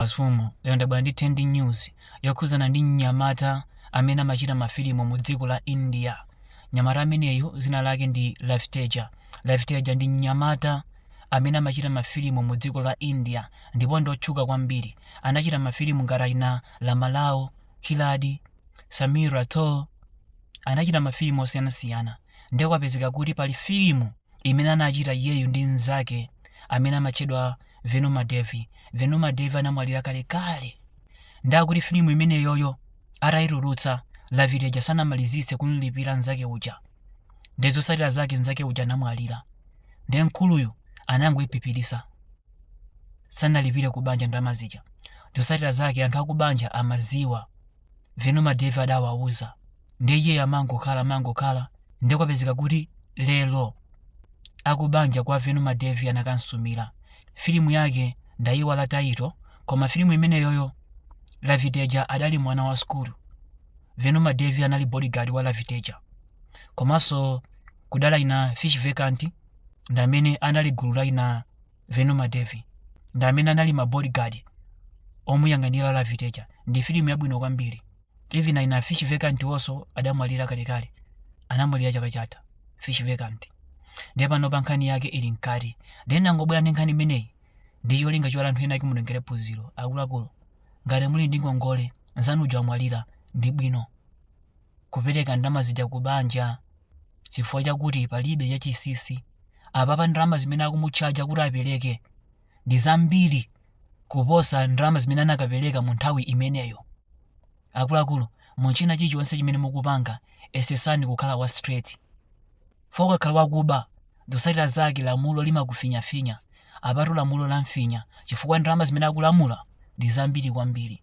Mafumu, lero ndabwera ndi trending news yokhudzana ndi mnyamata amene amachita mafilimu mu dziko la India. Mnyamata ameneyu dzina lake ndi Ravi Teja. Ravi Teja ndi mnyamata amene amachita mafilimu mu dziko la India ndipo ndi otchuka kwambiri. Anachita mafilimu ngati achina Lamalao, Khiladi, Samir Rathore. Anachita mafilimu osiyanasiyana. Ndiye kwapezeka kuti pali filimu imene anachita iyeyu ndi mnzake amene amatchedwa Venu Madhav. Venu Madhav anamwalira kalekale. Nde akuti filimu imeneyoyo atayitulutsa Ravi Teja sanamalizitse kumlipira mnzake uja. Nde zotsatira zake mnzake uja anamwalira. Nde mkuluyu anangoiphiphiritsa. Sanalipire ku banja ndalama zija. Zotsatira zake anthu akubanja amadziwa. Venu Madhav adawauza. Ndiye iyeyo amangokhala amangokhala ndiye kwapezeka kuti lero akubanja kwa Venu Madhav anakamsumira. Filimu yake ndayiwala title koma filimu imeneyoyo Ravi Teja adali mwana wa sukulu. Venu Madhav anali bodyguard wa Ravi Teja. Komanso kudali aina Fish Venkat ndamene anali gulu la aina Venu Madhav ndi amene anali ma bodyguard omuyang'anira Ravi Teja. Ndi filimu yabwino kwambiri. Even aina Fish Venkat also adamwalira kalekale. Anamwalira chaka chatha Fish Venkat. Ndiye panopa nkhani yake ili mkati. Ndiye ndangobwera ndi nkhani imeneyi ndi cholinga choti anthu ena ake mutengere phunziro. Akuluakulu, ngati muli ndi ngongole, nzanu uja wamwalira, ndi bwino kupereka ndalama zija ku banja chifukwa chakuti palibe chachinsinsi apapa ndalama zimene akumutchaja kuti apereke ndi zambiri kuposa ndalama zimene akanapereka mu nthawi imeneyo akuluakulu mu china chilichonse chimene mukupanga yesetsani kukhala wa straight chifukwa ukakhala wakuba zotsatira zake lamulo limakufinyafinya apatu lamulo lamfinya chifukwa ndalama zimene akulamula ndi zambiri kwambiri